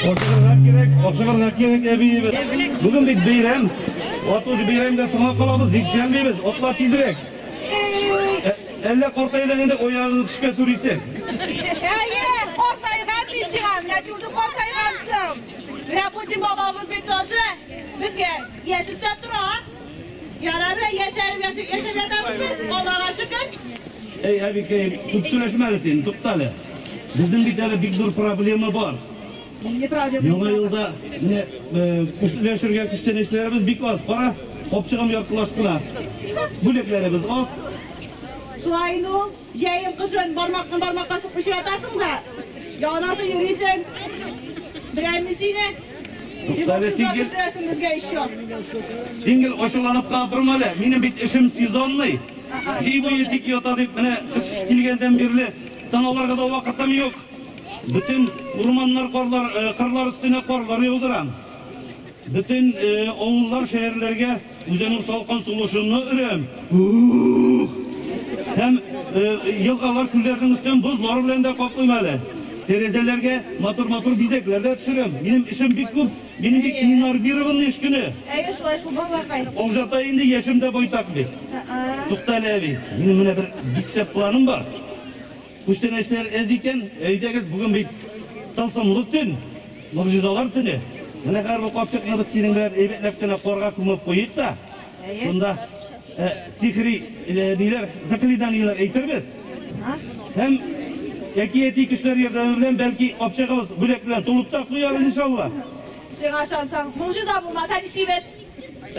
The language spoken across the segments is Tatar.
Ашыгырга кирәк, ашыгырга кирәк, әбиебез. Бүген бит бәйрәм. Ату бәйрәмдә соңга калабыз, җиксән дибез. Атла тизрәк. Әллә картайдың инде оягыңны төшкә сүрисең. Әйе, картайган ди сиңа. Менә син үзе картайгансың. Менә Путин бабабыз бит тоже безгә яшь өстәп тора. Ярары, яшәеп яшәп ятабыз без, Аллага шөкер. Әй, әбикәем, күп сөйләшмә әле син, тукта әле. Безнең бит әле бик зур проблема бар. Яңа елда менә көчләшергә көчләнешләребез бик аз. Кара, капчыгым яртылаш кына. Бүлекләребез аз. Шулай инде ул. Җәен, кышын бармакны бармакка сукмый чиратасың да, янасы йөрисең. Берәйме сине? Туктале сингел. Безгә еще. Сингел ачуланып та торма әле. Минем бит эшем сезонный. Җәй буе тик ята дип менә кыш килгәндән бирле таналарга да вакытым юк. Бөтен урманнар карлар, кырлар өстенә карлар яудырам. Бөтен авыллар, шәһәрләргә Үзенең салкын сулышынны өрәм. Ух! Һәм елгалар күлләрнең өстен бозлар белән дә каплыйм әле. Тәрәзәләргә матур-матур бизәкләр дә төшерәм. Минем эшем бик күп. Мин бик иннарбированный эш көне. Әйе, шулай шул балакай. Олжата инде яшем дә байтак бит. Тукта әле, әби. Минем менә бер бик шәп планым бар. Күчтәнәчләр әз икән, әйдәгез, бүген бит тылсымлы төн, могҗизалар төне. Менә хәзер бу капчыкны без синең белән әйбәтләп кенә карга күмеп куйыйк та, шунда сихри ниләр, заклинаниеләр әйтербез. Һәм әкияти көчләр ярдәме белән, бәлки, капчыгыбыз бүләк белән тулып та куяр, иншалла. Сиңа ышансаң, могҗиза булмаса ничибез?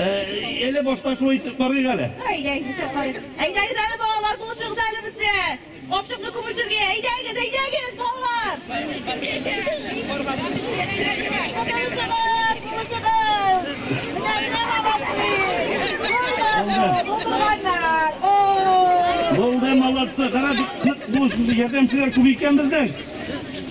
Әле башта шулай итеп карыйк әле. Әйдәгез, нишләп карыйк? Әйдәгез әле, балалар, булышыгыз әле без белән. Капчыкны күмешергә. Әйдәгез, әйдәгез, балалар. Булды, молодцы. Кара, бик нык булышыгыз. Ярдәмчеләр күп икән безнең.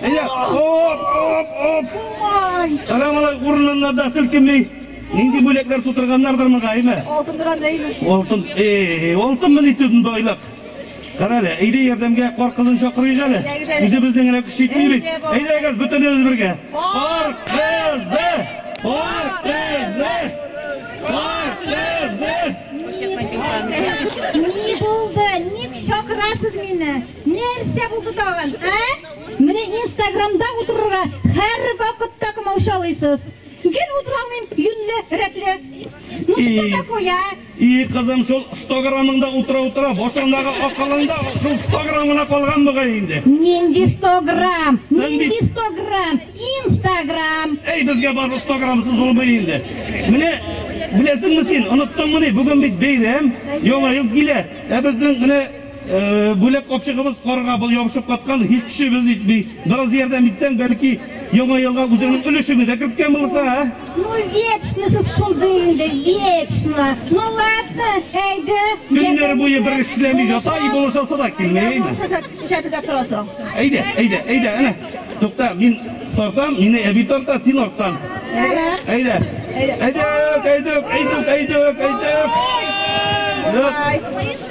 Әйе, оп, оп, оп. Карамалай урынында да селкенми. Нинди бүләкләр тутырганнардыр моңа, әйме? Алтын белән әйме? Алтын, эй, алтын мени төтен байлык. Карале, әйдә ярдәмгә кар кызын чакырыйк әле. Үзебезнең генә көч җитми бит. Әйдәгез, бөтенебез бергә. Кар кызы! Кар кызы! Кар кызы! Ни булды? Ник чакырасыз мине? Нәрсә булды тагын, ә? Менә инстаграмда утырырга һәрвакытта комаушалыйсыз. Гел утыра алмыйм, юньле, рәтле. Ну что такое, а? И, кызым, шул 100 граммыңда утыра-утыра, башыңдагы акылыңда шул 100 грамм гына калган мөгаен инде. Нинди 100 грамм? Нинди 100 грамм? Инстаграм. Әй, безгә барлык 100 граммсыз булмый инде. Менә беләсеңме син, оныттыңмыни, бүген бит бәйрәм, яңа ел килә. Ә безнең менә Бүләк капчыгыбыз карга ябышып каткан, һич көчебез җитми. Бераз ярдәм итсәң, бәлки, Яңа елга үзеңнең өлешеңне дә керткән булырсың, ә? Ну, вечно сез шундый инде, вечно. Ну, ладно, әйдә, Көннәр буе бер эш эшләми ята и булыша сыда килми, әйме? Булышасы кичә бездә торасың. Әйдә, әйдә, әйдә, әнә. Тукта, мин тартам, мине әби тарта, син арттан. Ярар. Әйдә. Әйдә. Әйдүк, әйдүк, әйдүк, әйдүк, әйдүк. Юк. Бай.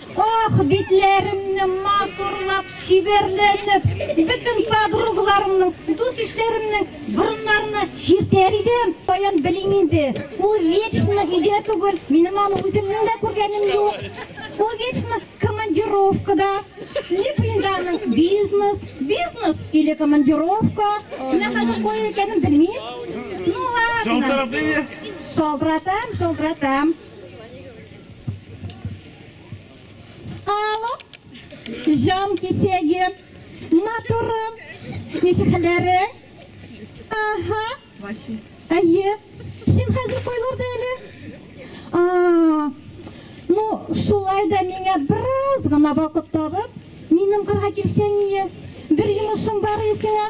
Ох, битләремне матурлап, чибәрләнеп, бөтен подругаларымның, дус-ишләремнең борыннарына чиртәр идем. Таян белим инде. Ул вечно өйдә түгел, минем аны үземнең дә күргәнем юк. Ул вечно командировкада. Липинданың бизнес, бизнес или командировка. Менә хәзер кая икәнен белмим. Ну ладно. Шалтыратыйм. Шалтыратам, шалтыратам. Җан кисәге, матурым, ничекләре? Аһа. Әйе. Син хәзер койларда әле? А, ну, шулай да миңа бераз гына вакыт табып, минем кырга килсәң ие. Бер йомышым бар исеңә.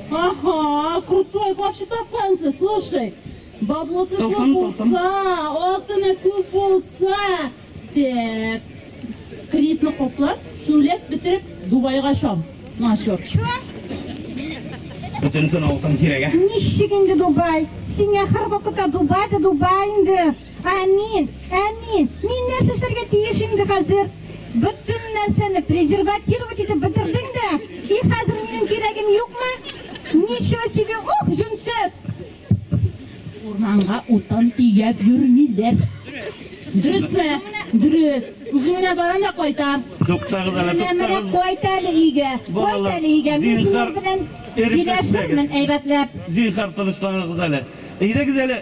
Ага, крутой вообще тапкансыз, слушай. Баблосы күп булса, алтыны күп булса. Так. Кредитны коплап, сүләп бетереп Дубайга чам. Начур. Бүтенсен алтын кирәгә. Ничек инде Дубай? Сиңа һәрвакытта Дубай да Дубай инде. Ә мин, ә мин, мин нәрсә эшләргә тиеш инде хәзер? Бөтен нәрсәне презерватировать итеп бетердең дә, и хәзер минем кирәгем юкмы? Ничего себе, ух, җүнсез! Урманга утын төяп йөрмиләр. Дөресме? Дөрес. Үзем генә барам да кайтам. Туктагыз әле, Менә менә туктагыз. кайт әле өйгә. Кайт әле өйгә. Мин синең белән сөйләшермен әйбәтләп. Зинһар тынычланыгыз әле. Әйдәгез әле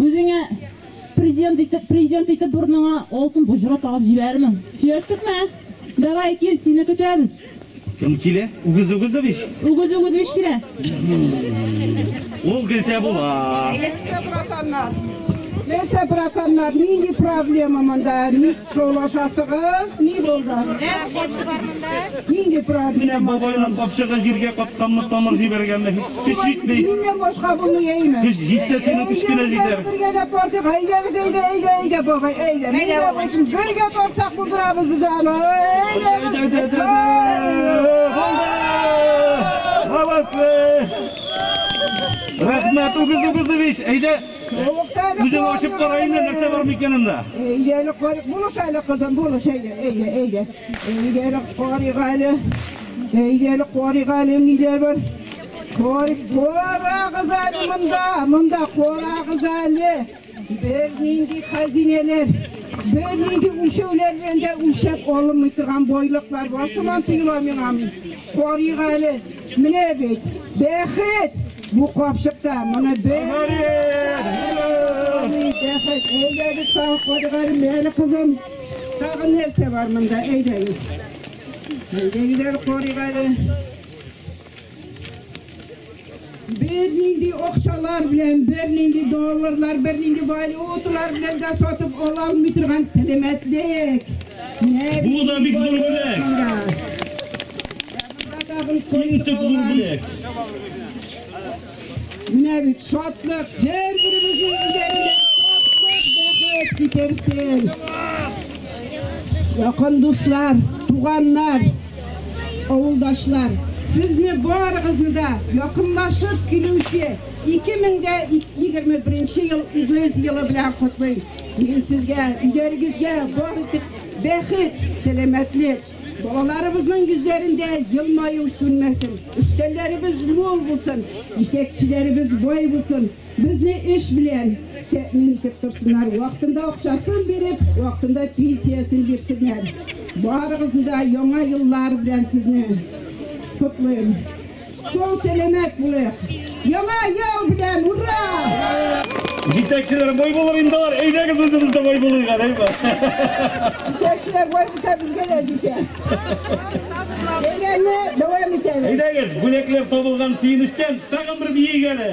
Үзеңә президент итеп, президент итеп борыныңа алтын боҗра тагып җибәрермен. Сөйләштекме? Давай кил, сине көтәбез. Кем килә? Үгез Үгезович? Үгез Үгезович килә. Ул килсә була. Нәрсә братаннар? Нәрсә братаннар? Нинди проблема монда? Шулашасыгыз, ни булды? Нәр капшы бар монда? Нинди проблема? Бабайның капшыгы җиргә катканмы, тамыр җибәргәнме? Һич җитми. Миннән башка булмый, әйме? Көч җитсә, сине кечкенә җитәр. Бергә дә бардык, әйдәгез, әйдә, әйдә, әйдә, бабай, әйдә. Әйдә, бабай. Бергә тартсак булдырабыз без аны. Әйдә, әйдә, әйдә, әйдә. Молодцы! Рәхмәт, үгез, үгез, әйдә. Үзең ачып кара инде, нәрсә бар микән анда? Әйдәле карык булыш әле, кызым, булыш, әйдә, әйдә, әйдә. Әйдәле карык әле. Әйдәле карык әле, ниләр бар? Карык, карагыз әле монда, монда карагыз әле. Бер нинди хәзинәләр, бер нинди үлчәүләр белән дә үлчәп алынмый торган байлыклар бар сыман тоела миңа. Карык әле. Менә бит бәхет бу капчыкта. Моны бер. Бәхет. Әйдәгез тагы кадыгарым әле кызым. Тагы нәрсә бар монда? Әйдәгез. Әйдәгез әле карыйк әле. Бернинди акчалар белән, бернинди долларлар, бернинди валюталар белән дә сатып ала алмый торган сәламәтлек. Бу да бик зур бүләк. Иң төп зур бүләк. Менә бит шатлык, һәр беребезнең үзләрендә шатлык, бәхет китерсен. Якын дуслар, туганнар, авылдашлар, сезне барыгызны да якынлашып килүче 2021 ел үгез елы белән котлыйм. Мин сезгә, өйләрегезгә бар итеп бәхет, сәламәтлек, балаларыбызның йөзләрендә елмаю сүнмәсен, өстәлләребез мул булсын, исәкчеләребез бай булсын, безне эш белән тәэмин итеп торсыннар, вакытында акчасын биреп, вакытында пенсиясен бирсеннәр. Барыгызны да яңа еллар белән сезне котлыйм. Сау сәләмәт булыйк! Яңа ел белән! Ура! Җитәкчеләр бай булыр инде алар. Әйдәгез үзебез дә бай булыйк, әйдә. Җитәкчеләр бай булса безгә дә җитә. Бәйрәмне дәвам итәбез. Әйдәгез, бүләкләр табылган сөенечтән тагын бер биек әле.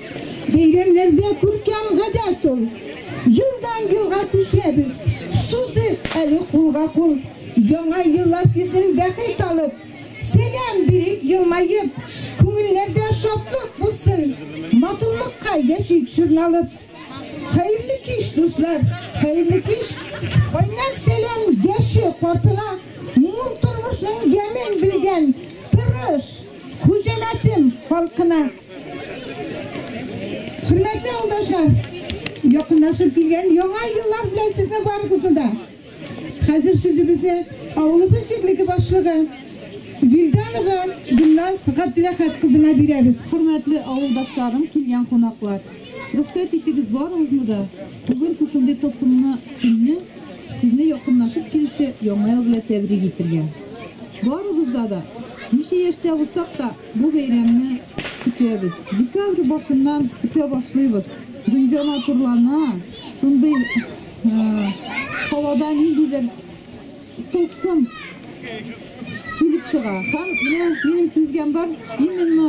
Бәйрәмнәрдә күркәм гадәт ул. Елдан-елга күчәбез. Сузыйк әле кулга-кул. Яңа еллар көзен бәхет алып. Сәлам бирик елмаеп. Күңелләрдә шатлык булсын. Матурлыкка яшик җырналып. Хәерле кич, дуслар, хәерле кич! Кайнар сәлам яше картына, мул тормышның ямен белгән, тырыш, хуҗәмәтем халкына! Хөрмәтле авылдашлар, якынлашып килгән яңа еллар белән сезне барыгызны да. Хәзер сүзебезне авылыбыз җирлеге башлыгы Вильданова Гөлназ Габдуләхәт кызына бирәбез. Хөрмәтле авылдашларым, килгән кунаклар. Рөхсәт итегез барыгызны да. Бүген шушындый тылсымлы көнне сезне якынлашып килүче яңа ел белән тәбрик итәргә. Барыбызда да ничә яшьтә булсак та Бу бәйрәмне көтәбез. Декабрь башыннан көтә башлыйбыз. Дөнья матурлана, шундый һавада ниндидер тылсым килеп чыга. Һәм менә минем сизгән бар, именно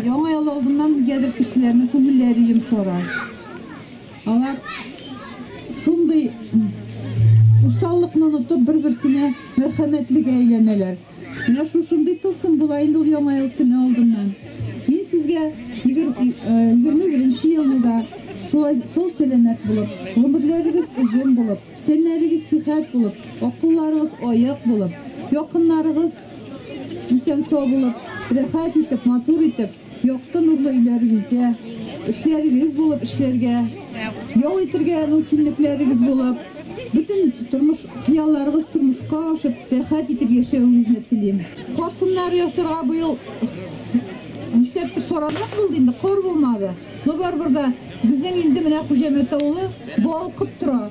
яңа ел алдыннан нигәдер кешеләрнең күңелләре йомшара. Алар шундый усаллыкны онытып, бер-берсенә мәрхәмәтлегә әйләнәләр. Менә шушындый тылсым була инде ул Яңа ел төне алдыннан. Мин сезгә 21 елны да шулай сау-сәламәт булып, гомерләрегез озын булып, тәннәрегез сихәт булып, акылларыгыз аек булып, якыннарыгыз исән-сау булып, рәхәт итеп, матур итеп, Якты нурлы өйләрегездә, эшләрегез булып эшләргә, ял итергә мөмкинлекләрегез булып, бөтен тормыш хыялларыгыз тормышка ашып, рәхәт итеп яшәвегезне телим. Кар сыннары ясарга быел нишләптер сораррак булды инде, кар булмады. Но барыбер дә безнең инде менә Хуҗәмәт авылы балкып тора.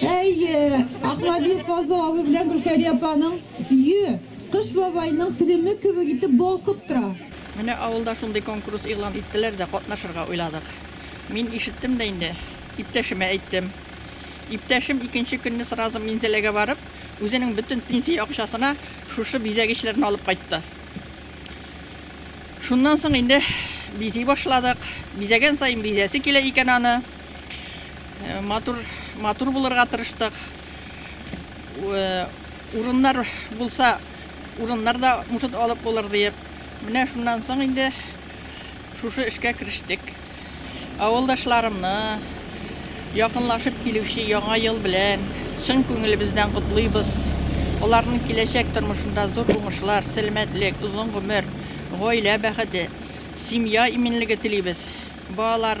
Әйе, Ахмадиев Фазыл абый белән Гөлфәрия апаның өе Кыш бабайның телеме кебек итеп балкып тора. Менә авылда шундый конкурс игълан иттеләр дә, катнашырга уйладык. Мин ишеттем дә инде, иптәшемә әйттем. Иптәшем икенче көнне сразу Минзәләгә барып, үзенең бөтен пенсия акчасына шушы бизәгечләрне алып кайтты. Шуннан соң инде бизи башладык. Бизәгән саен бизәсе килә икән аны. Матур, матур булырга тырыштык. Урыннар булса, урыннар да может алып булыр диеп. Менә шуннан соң инде шушы эшкә керештек. Авылдашларымны, якынлашып килүче яңа ел белән чын күңелебездән котлыйбыз. Аларның киләчәк тормышында зур уңышлар, сәламәтлек, озын гомер, гаилә бәхете, семья иминлеге телибез. Балалар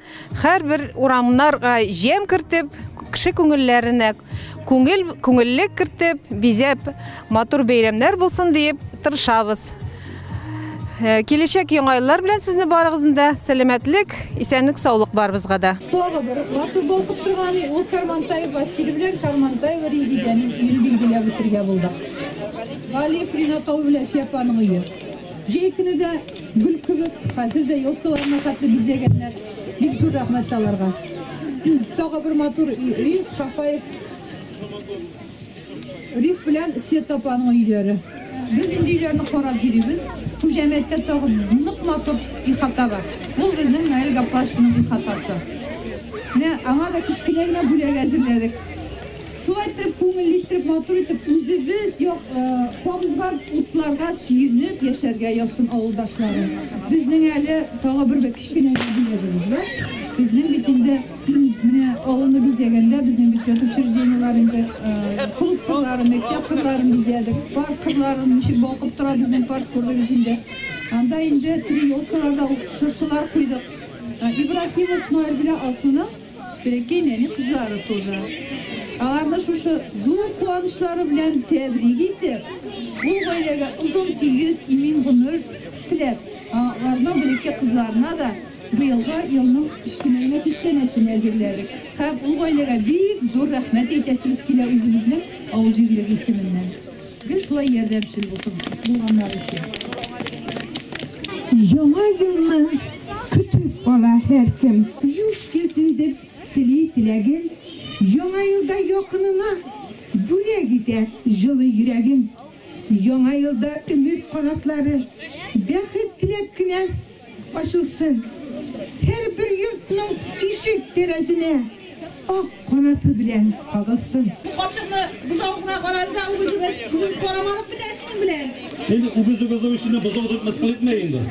Хәрбер урамнарга җем кертеп, кеше күңелләренә күңел, күңеллек кертеп, бизәп, матур бәйрәмнәр булсын диеп тырышабыз. Э, киләчәк яңа еллар белән сезне барыгызны да сәламәтлек, исәнлек, саулык барыбызга да. Тагы бер матур балкып торган ул Кармантаев Василий белән Кармантаева Резидәнең өен билгеләп үтергә булдык. Галиф Ринатов белән Сәпаның өе. Җәй көне дә гөл кебек, хәзер дә елкаларны хәтле бизәгәннәр. Бик зур рәхмәт аларга. Тагы бер матур өй, Сафаев Риф белән Света апаның өйләре. Без инде өйләрне карап йөрибез. Бу җәмгыятьтә тагы нык матур ихата бар. Ул безнең Наил Гаплашевның ихатасы. Менә аңа да кечкенә генә бүләк әзерләдек. Шулай итеп, күңелле итеп, матур итеп, үзебез як кабызган утларга сөенеп яшәргә язсын авылдашларым. Безнең әле тагы бер кечкенә юбилеебез бар. Безнең бит инде менә авылны бизәгәндә безнең бюджет учреждениеләр инде клуб кырлары, мәктәп кырларын бизәдек, парк кырларын ничек балкып тора безнең парк күрдегез инде. Анда инде три елкаларда шыршылар куйдык. Ибрахимов Ноэль белән Алсуның Бәләкәй нәни кызлары туды. Аларны шушы зур куанычлары белән тәбрик итеп, ул гаиләгә озын, тигез, имин гомер теләп, аларның бәләкәй кызларына да быелгы елның кечкенәгенә күчтәнәчен әзерләдек. Һәм ул гаиләгә бик зур рәхмәт әйтәсебез килә үзебезнең авыл җирлеге исеменнән. Гел шулай ярдәмчел булсын булганнар өчен. Яңа елны көтеп ала һәркем. Юш килсен дип тели теләгем. Яңа елда якынына бүләк итә җылы йөрәгем. Яңа елда өмет канатлары, бәхет теләп кенә Ачылсын һәрбер йортның ишек тәрәзенә ак канаты белән кагылсын. Капчыкны бозау гына карады да үгезебез үгез карамадык бит әсин белән. Син үгез үгезләр өчен бозау дип мыскыл итмә инде.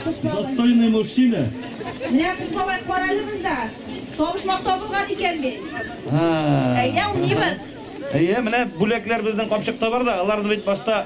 Достойный мужчина. Менә кыз бабай карале монда. Табышмак табылган икән бит. Әйдә, уйныйбыз. Әйе, менә бүләкләр безнең капчыкта бар да, аларны бит башта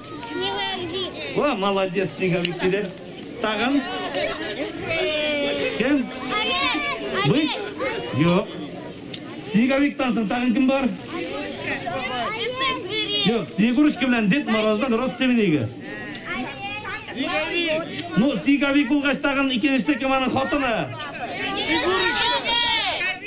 Ва, молодец, снеговик киде. Тагын. Кем? Вы? Юк. Снеговик тансын, тагын кем бар? Юк, снегурочка белән Дед Мороздан родственнигы. Ну, снеговик булгач тагын икенчесе кем аның хатыны? Снегурочка.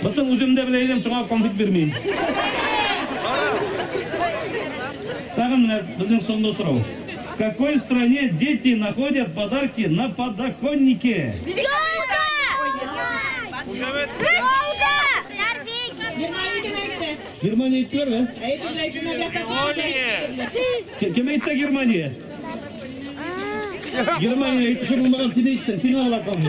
Бысын үзем дә белә идем, шуңа конфет бирмим. Тагын менә безнең соңгы сорау. В какой стране дети находят подарки на подоконнике? Ялта! Ялта! Норвегия! Германия әйттеләр, да? Германия! Кем әйтте Германия? Германия әйтүче булмаган син әйттең, сиңа алар калды.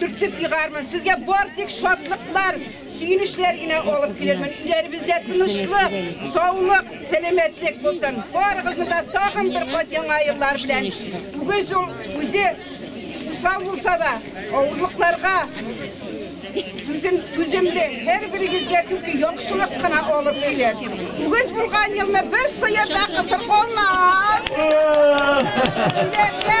Төртеп егармын. Сезгә бар тик шатлыклар, сөенечләр генә алып килермен. Өйләребездә тынычлык, саулык, сәламәтлек булсын. Барыгызны да тагын бер кат яңа еллар белән. Үгез ул үзе усал булса да, авырлыкларга түзем, түземле, һәр берегезгә түки яхшылык кына алып килер. Үгез булган елны бер сыер да кысыр калмас. Үләргә